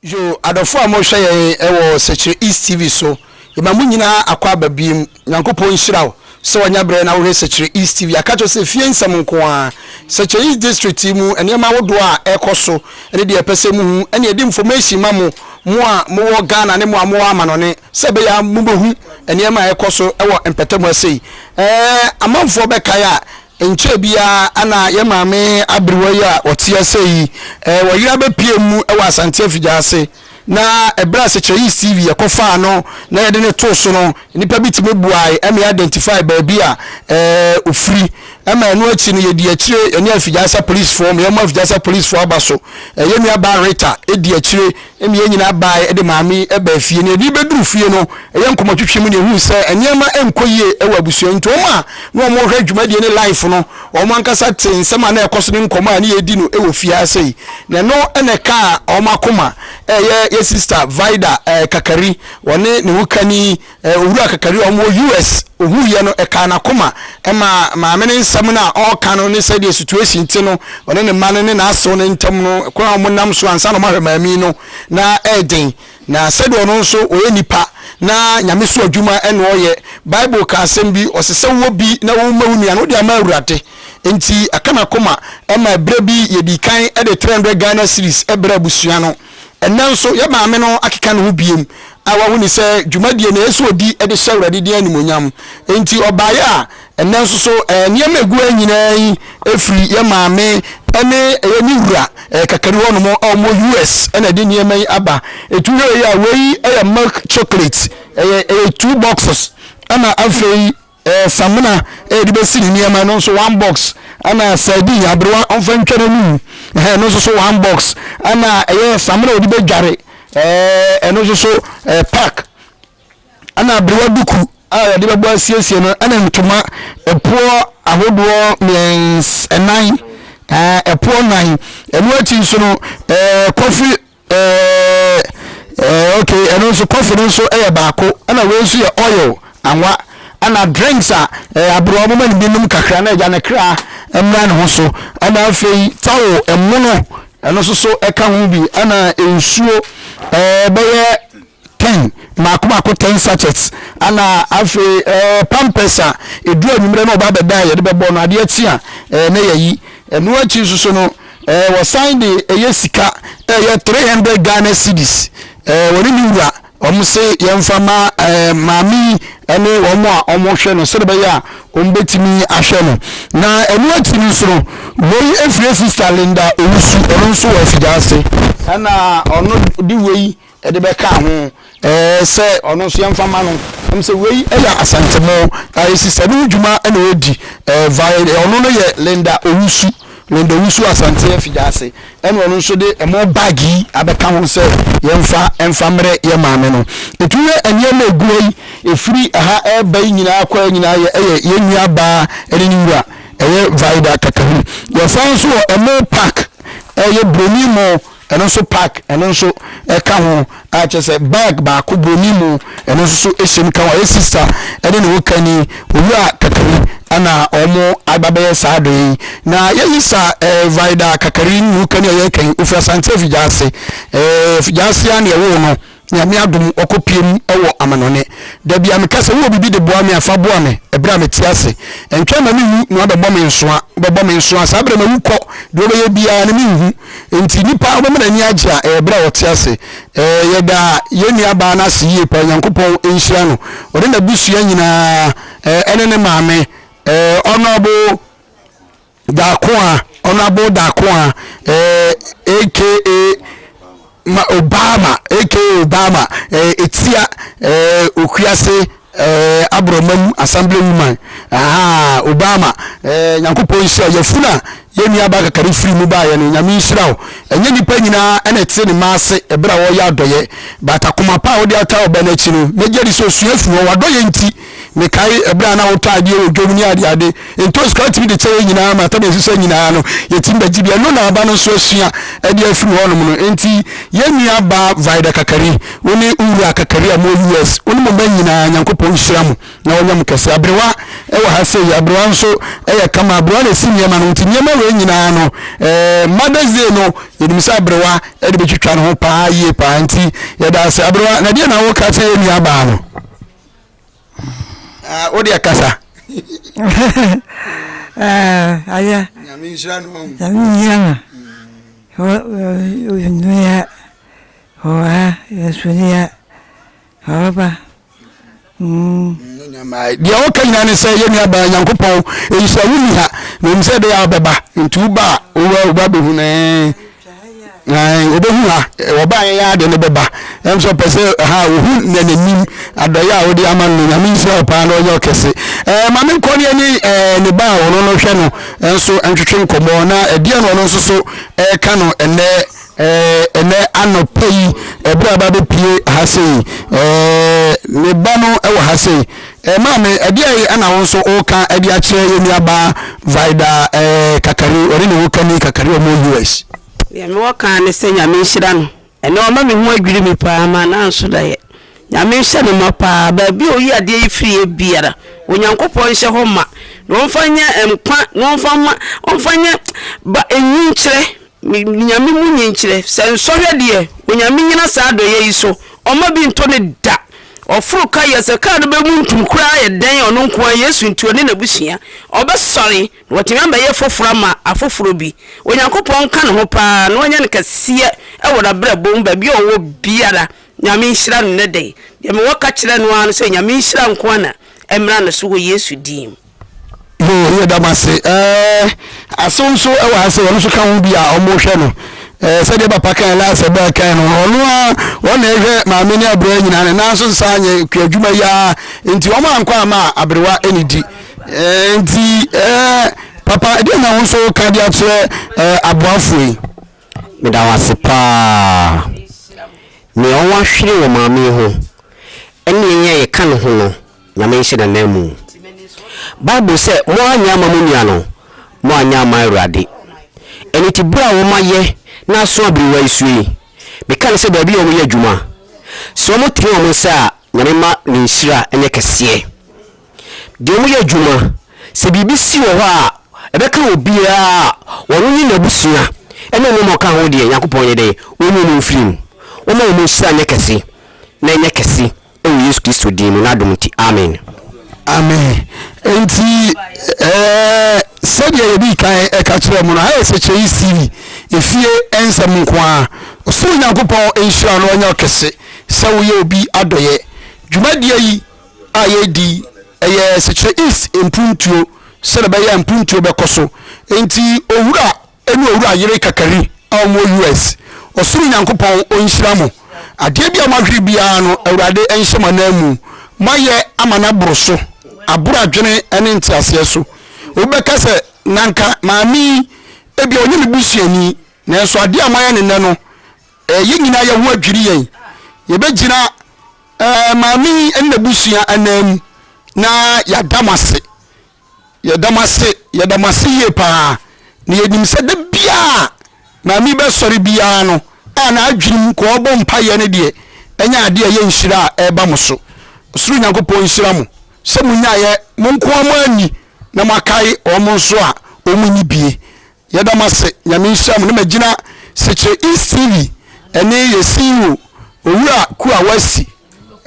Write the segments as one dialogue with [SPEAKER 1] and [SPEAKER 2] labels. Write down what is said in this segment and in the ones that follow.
[SPEAKER 1] yo adɔfo a mohwɛ yɛn wɔ sɛkyerɛ east tv so yɛma mo nyinaa akɔ aba biem nyankopɔn nhyira wo sɛ wanya berɛ na wohwɛ sɛkyerɛ east tv aka kyerɛ sɛ fie nsɛm nko a sɛkyerɛ east district mu nneɛma ahodoɔ a ɛkɔ so ne deɛ ɛpɛ sɛ muhu ɛne ɛde information ma mo mo a mowɔ ghana ne mo a mowɔ amanɔne Sɛ ɛbɛyɛ a mubehu nneɛma a ɛrekɔ so wɔ mpɛtam ha sei. Ɛɛ, amanfoɔ bɛkae a, ɛnkyɛɛ biara na yɛn maame aberewa yi a ɔte ha sei yi, ɛɛ, ɔyere abɛpue mu wɔ Asante afigya ase. Na ɛberɛ a Sekyerɛyis TV yɛkɔfaa no na yɛde no too so no, nnipa bi tumi boae ma yɛ'identified baabi a, ɛɛ, ɔfiri. Ɛma ɛno akyi no, yɛ'dii akyire, yɛne Afigya Asa polisfoɔ, ma yɛ'ma Afigya Asa polisfoɔ aba so. Ɛɛ, yɛn nuabaa Rita dii akyire. Ɛnna yɛn nyinaa bae de Maame yi baa fie, na yɛde beduu fie no, ɛyɛ nkɔmmɔtwetwe mu na yehui sɛ nneɛma nkɔ yie wɔ abusua yi nti. Wɔn a na wɔrehwɛ dwumadie no life no, wɔn ankasa tee nsɛm a na ɛrekɔ so ne nkɔmmɔ a na yɛredi no wɔ fie ha sei, na ɛno na ɛkaa wɔn akoma. Ɛyɛ yɛn sista Vida Kakari, ɔne ne hokani Eh, Owura Kakari a ɔwɔ US. Ohuiɛ no, ɛkaa n'akoma maa maame no nsɛm no a ɔreka no ne sɛdeɛ situation te no, ɔne ne mma no ne n'asew no ntam no, kwan a wɔnam so ansa na wɔahwɛ maame no, na ɛyɛ den. Na sɛdeɛ ɔno nso ɔyɛ nipa na nyamesu adwuma na ɔreyɛ, Bible ka asɛm bi, ɔse sɛ wowɔ bi na woma wo nua no, wode ama Awurade. Enti, ɛka n'akoma ma berɛ bi yɛdii kan de 300 Ghana cedis brɛɛ abusua no. Ɛnnɛ nso, yɛn Maame no akeka ne ho bio a wahu no sɛ dwumadie no ɛyɛ sɛ ɔdi de hyɛ Awurade din animuonyam. Enti ɔbaeɛ a ɛnnɛ nso so nneɛma a ɛgu ha nyinaa yi firi yɛn Maame ne ɛyɛ ne wura kakari hɔ nom a wɔwɔ US na ɛde nneɛma yi aba. Ɛtu hwɛ wei a, wei yɛ milk chocolate, ɛyɛ ɛyɛ two boxes ɛna afei Eh samina eh de bɛsi ne nneɛma no nso one box ɛna sardine aberewa ɔmfa ntwa n'anum eh ɛno nso so one box ɛna ɛyɛ samina ɔde bɛdware eh ɛno nso so eh pack ɛna aberewa duku a yɛde bɛbɔ asiesie no ɛna ntoma ɛpoɔ ahodoɔ mmiɛns ɛnan eh ɛpoɔ nan ɛno akyi nso no eh coffee Ɛɛɛɛ ɛɛɛ okay ɛno nso coffee no nso yɛ baako ɛna wei nso yɛ oil anwa ɛna drinks a ɛɛ aburo wɔn ma no bi nom kakra na ɛgya ne kra mmra ne ho so ɛna afei towel ɛmono ɛno nso so ɛka ho bi ɛna nsuo ɛɛ bɛyɛ Can mmaako mmaako ten sachets ana afei ɛɛ pampers a edu anwummerɛ na ɔba abɛda a yɛde bɛbɔ no adeɛ kye a ɛɛ na yɛyi ɛno akyi nso so no ɛɛ wɔsan de ɛyɛ sika ɛyɛ three hundred Ghana cedis ɛɛ wɔne ne wura wɔn se yɛnfa ma ɛɛ maame yi ɛne wɔn a wɔhwɛ no sɛdeɛ bɛyɛ a wɔn bɛtumi ahwɛ no na ɛno akyi no nso no wei efiri sista Linda Owusu ɔno nso wɔ afidie ase ɛna ɔno de wei. de bɛkaa ho ɛɛ sɛ ɔno nso yɛmfa ma no ɛm sɛ wei yɛ asantemo ɛɛ sista no ho dwuma na ɔredi ɛɛ vae ɔno no yɛ Linda Owusu Linda Owusu Asante afigya ase ɛna ɔno nso de ɛmo bag yi abɛka ho sɛ yɛmfa ɛmfa mmerɛ yɛ maame no ɛtu yɛ nneɛma ɛgura yi ɛfiri ɛha ɛreba yi nyinaa kɔ nyinaa yɛ ɛyɛ yɛn nua baa ɛne ne wura ɛyɛ vae da kakahu yɛsan nso wɔ ɛmo park ɛyɛ broni mo Ɛno nso pack ɛno nso ɛka ho a kyerɛ sɛ bag baako broni mu ɛno nso so ɛhyɛ mu ka ho. Ɛyɛ sista ɛne ne wokani owura kakari ɛna wɔn aba bɛyɛ saa adɔyɛ yi na yɛyi sa ɛɛ eh, vaida kakari ne wokani a yɛka yi ofiri asante afigyaase ɛɛ eh, afigyaase a na ɛwɔ no. Nyame adom ɔkɔ pie mu wɔ amanɔne Da bia meka sɛ wowɔ biribi de boa me a fa boa me ɛberɛ a mete ase Ɛntwɛn ma me wu na wabɛbɔ me nsoa Wobɛbɔ me nsoa saa berɛ ma wu kɔ Deɛ wobɛyɛ biaa no me nhu Enti nipa wobɛma n'ani agye a ɛyɛ berɛ a ɔte ase Ɛɛ yɛda yɛn nua baa no ase yie paa Onyankopɔn nhyira no ɔne n'abusua nyinaa ɛɛ ɛne ne maame ɛɛ Honourable Darkoa, Honourable Darkoa eh, aka ma Obama, aka Obama eh, Etia eh, Okuase eh, Aborɔmam Assembly Woman, aha, Obama eh, Nyankopɔn nhyira wo. Yafunu a yɛn nua baa kakari firi mu baeɛ no, Nyame nhyira wo. Ɛnyɛ nnipa nyinaa ɛna ɛte ne mma ase ɛberɛ a wɔreyɛ adɔyɛ, but akoma pa a wode ata ɔbɛ no akyi no, mɛgye adi sɛ ɔsua firi hɔ, w'adɔyɛ nti. Mekae ɛberɛ a na wotɔ adeɛ wɔ dwom ne adeade, ntoosi koraa tumi de kyɛ yɛn nyinaa ma tam a ɛsesa nyinaa no yɛtumi bɛgye bi. Ɛno na aba no nso asua de afiri hɔnom no. Enti yɛn nuabaa Vida Kakari, wo ne wo wura Kakari a mowɔ US, wo ne mo mma nyinaa, Nyankopɔn nhyira mo na ɔnyɛ mo kɛse. Aberewa wɔ ha sei, aberewa nso yɛ kama, aberewa na ɛsi nneɛma no, nti nneɛma wei nyinaa no, eh, Mother's Day no, yɛnim sɛ aberewa de bɛtwitwa ne ho paa yie paa. Nti yɛda ase. Aberewa, na deɛ na woka kyerɛ yɛn nuabaa no? Ah, wo deɛ kasa.
[SPEAKER 2] Ah, ayɛ. Nyame nhyira no.
[SPEAKER 1] Nyame nhyira
[SPEAKER 2] no. Ɔnua, ɔha, ɛsonia, ɔba.
[SPEAKER 1] Deɛ woka nyina ne sɛ yɛ nuabaa Nyankopɔn ɛyi sɛ wonni ha na ɛmu sɛ ɛbɛyɛ a wobɛba nti woba a woba bɛhu no Ae, obehu ha. Ɔbaa yɛn yɛn ade no bɛba. Ɛm sɛ ɔpɛ sɛ ha ohu na n'anim adɔyɛ a wode ama no. Nyame nhyira wo paa na ɔnyɛ ɔkɛse. Ɛɛ ma me nkɔ ne ɛne ɛɛ ne ba a ɔno no hwɛ no nso ntwetwe nkɔmmɔ na ɛdeɛ na ɔno nso so ɛɛka no ɛnɛ ɛɛ ɛnɛ anɔpa yi ɛberɛ a aba bɛpie ha sei. Ɛɛ ne ba no ɛwɔ ha sei. Eh maame, ɛdeɛn na wo nso woka de akyerɛ yɛn nuabaa Vida eh, Kakari, ɔne ne wokani Kakari, wɔn wɔ US. Deɛ me wɔ kaa
[SPEAKER 3] ne sɛ Nyame nhyira no, ɛnɛ wama me ho adwiri me paa, m'anan nso da yɛ. Nyame nhyɛ no ma paa, baabi a oyi adeɛ yi firi yɛ biara, Onyankopɔn nhyɛ hɔ ma, na ɔmfa nyɛ nkwa, na ɔmfa ma, ɔmfa nyɛ ba nyikyerɛ, me Nyame mu nyikyerɛ, sɛ nsɔhwɛ deɛ, Onyame nyina saa adɔyɛ yi so, ɔmma bi nto no da. Ɔforo ka yɛ sɛ kar no bɛmuntum koraa ayɛ dɛn a, ɔno nko ara, Yesu nti, ɔne n'abusua, ɔbɛsɔre, na watumi abɛyɛ foforɔ ama afoforɔ bi. Onyankopɔn nka ne ho pa ara, na wanya no kɛseɛ wɔ n'abrabɔ mu, baabi a ɔwɔ biara, Nyame nhyira no nnɛ da yi. Deɛ mewɔ ka kyerɛ no ara ne sɛ, Nyame nhyira nko ara na ɛmmra ne so wɔ Yesu din mu. Hoo
[SPEAKER 1] yɛda mo ase ɛɛ Asew nso ɛwɔ ha sɛ ɔno nso ka ho bi a ɔmo hwɛ no ɛɛ sɛdeɛ papa kan laasɛ bɛɛ kan no ɔno a wɔn na ɛhwɛ maame ne abirɛ nyinaa ne nan so nsa anyɛ kua adwuma yi ara nti wɔn ankɔ ama a aberewa ɛne di ɛɛ nti ɛɛ papa ɛdeɛ na wɔn nso ka de akyerɛ ɛɛ aboafo yi.
[SPEAKER 4] meda wo ase paa nea ɔwɔ ahwere wɔ maame yi ho ɛne yɛn a yɛka ne ho no na menhyɛ n'ananmu. Bible sɛ, Moannyɛ amma mo nua no, moannyɛ amma Awurade. Ɛno nti berɛ a wɔayɛ na aso abiri wo asuo yi, meka no sɛ baabi a wɔyɛ adwuma, sɛ wɔtene wɔn nsa a, Nyame mma ne nhyira nyɛ kɛseɛ. Deɛ wɔyɛ adwuma, sɛ biribi si wɔ hɔ a ɛbɛka obiara a, ɔno ne n'abusua ne nneɛma a ɔka ho deɛ, Nyankopɔn yɛ dɛn? Ɔnyi no mfiri mu. Wɔmma wɔn nhyira nyɛ kɛse na ɛnyɛ kɛse Ɛwɔ Yesu Kristo din mu, N'adom nti, amen. Amen.
[SPEAKER 1] Enti, ɛɛ, sɛdeɛ yɛdii kan ɛka kyerɛɛ mo no, ha yɛ Sɛkyɛyi Siri, efie ɛnsɛm nko ara. Ɔsoro Nyankopɔn nhyira no ɛnyɛ ɔkɛse sɛ woyɛ obi adɔeɛ. Dwumadie yi a yɛredi yi, ɛyɛ Sɛkyerɛ East mpuntuo sɛdeɛ ɛbɛyɛ a mpuntuo bɛkɔ so. Enti, Owura. ne owura yere kakari a ɔmo wɔ US. Ɔsoro Nyankopɔn ɔnhyira mo. Adeɛ bi a moahwere biara no Awurade nhyɛ mo anan mu. Moayɛ ama no aboro so, aboro adwene ne nteaseɛ so. Obi bɛka sɛ, na anka maame yi ebia ɔnyɛ me busuani. Nanso adeɛ a moayɛ no nnɛ no, ɛɛ, yɛn nyinaa yɛn ho adwiri yɛn. Yɛbɛgyina, ɛɛ, maame yi ne n'abusua anan mu na yɛada mo ase. Yɛda mo ase, yɛda mo ase yie pa ara, na yɛnim sɛ da biara a maame yi bɛsɔre biara no a n'adwene mu kɔ ɔbɔ mpaeɛ no deɛ, ɛnyɛ adeɛ a ɛyɛ nhyira a ɛreba mo so. Ɔsoro Nyankopɔn nhyira mo sɛ monyaeɛ mo nkoa moanni na moakae wɔn nso a wɔnni bie. Yɛda mo ase, Nyame nhyira mo. Na magyina Sekyere East TV ɛne Yɛsiiwo Owura Kuawa asi.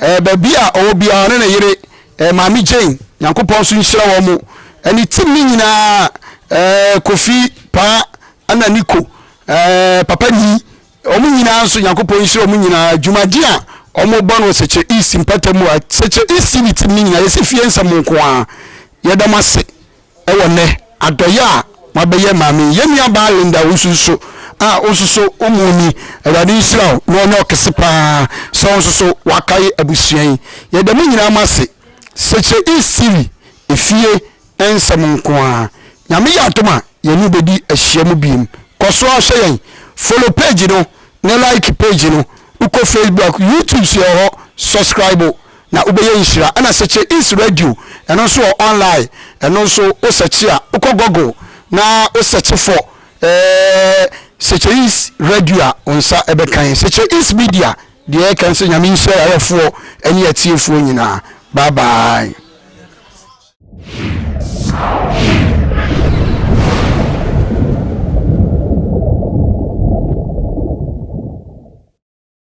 [SPEAKER 1] Ɛɛ baabi a ɔwɔ biara ɔne ne yere ɛɛ Maame Jane, Nyankopɔn nso nhyira wɔn mo ɛne team no nyinaa ɛɛ Kofi, Paa ɛna Niko ɛɛ Papa Nii wɔn nyinaa nso Nyankopɔn nhyira wɔn nyinaa dwumadi a wɔn bɔ no wɔ Sekyere East mpɛtɛ mu a Sekyere East TV team no nyinaa yɛsi fie nsɛm nko ara. Yɛda mo ase. Wɔ nnɛ, adɔeɛ a mabɛyɛ Maame, yɛn nuabaa Linda wo nso so a wo nso so wo mu ni, Awurade nhyira wo na ɔnyɛ wo kɛse paa sɛ wo nso so woakae abusua yi. Yɛda mo nyinaa mo ase, Sekyerɛ East TV efie nsɛm nko ara. Nyame yɛ adom a yɛne wo bɛdi ahyiam biom. Kɔ so ara hwɛ yɛn, follow page no ne like page no, wokɔ Facebook, YouTube nso yɛwɔ hɔ, subscribe. na wobɛyɛ nhyira ɛna sɛkye is radio ɛno nso wɔ online ɛno nso wo sɛkye a wokɔ google na wo sɛkye fɔ ɛɛ sɛkye is radio a wo nsa ɛbɛkan sɛkye is media deɛ ɛkan sɛ nyame nhyira yɛayɛfoɔ ɛne atiefoɔ nyinaa bye bye